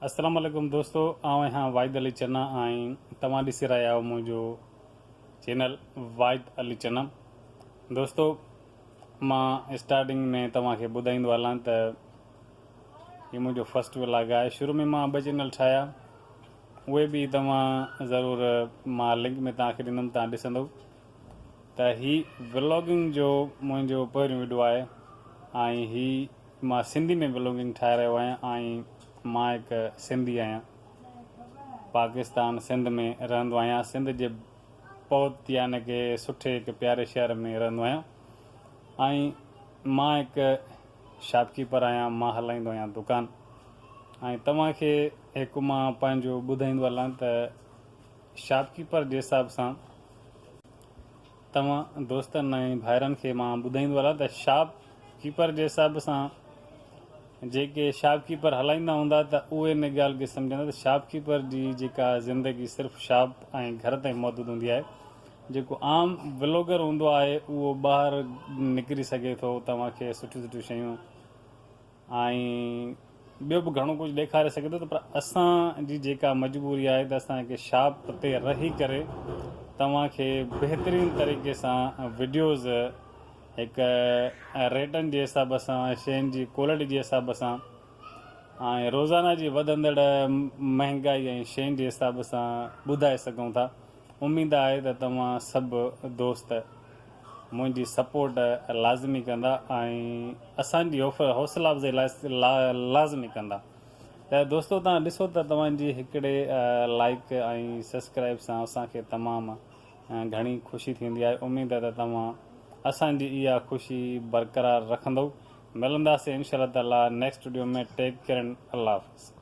السلام عليڪم دوستو آئون اهان واحد علي چنا ۽ توهان ڏسي رهيا آهيو منهنجو چينل واحد علي چنا دوستو مان اسٽارٽنگ ۾ توهان کي ٻڌائيندو هلان ته هي منهنجو فرسٽ ولاگ آهي شروع ۾ مان ٻه چينل ٺاهيا اهي به توهان ضرور مان لنڪ ۾ توهان کي ڏيندم توهان ڏسندو ته هي ولاگنگ جو منهنجو پهريون ويڊيو آهي ۽ هي مان سنڌي ۾ بلوگنگ ٺاهي رهيو آهيان ۽ مان هڪ سنڌي آهيان پاڪستان سنڌ ۾ رهندو آهيان سنڌ جي بهت يعني ڪي سٺي هڪ پياري شهر ۾ رهندو آهيان ۽ مان هڪ شاپ ڪيپر آهيان مان هلائيندو آهيان دڪان ۽ توهان کي هڪ مان پنهنجو ٻڌائيندو هلان ته شاپ ڪيپر جي حساب سان توهان دوستن ۽ ڀائرن کي مان ٻڌائيندو هلان ته شاپ ڪيپر جي حساب سان جيڪي شاپ ڪيپر هلائيندا هوندا ته اهي ان ڳالهه کي سمجهندا ته شاپ ڪيپر جي جيڪا زندگي صرف شاپ ۽ گهر تائين محدود هوندي آهي جيڪو عام بلاگر هوندو آهي اهو ٻاهر نڪري سگهي ٿو توهان کي سٺيون سٺيون شيون ۽ ٻيو به گهڻو ڪجهه ڏيکاري سگهي ٿو ته پر اسان جي جيڪا مجبوري آهي ته اسان کي شاپ تي رهي ڪري توهان کي بهترين طريقي سان وڊيوز هڪ ريٽن جي حساب سان شين جي ڪوالٽي جي حساب سان ۽ روزانه جي وڌندڙ مهنگائي ۽ شين جي حساب سان ٻڌائي سگهون ٿا اميد آهي ته توهان سڀ دوست منهنجي سپورٽ لازمي ڪندا ۽ اسان جي حوصلا افزائي لازمي ڪندا ته دوستو توهان ڏسو ته توهان جي هڪڙي لائيڪ ۽ سسڪرائيب سان اسان کي تمام گهڻي خوشي ٿيندي آهي اميد آهي ته توهان اسان جي اها خوشي برقرار رکندؤ ملنداسين انشاء الله تعالي next video ۾ take care and الله حافظ.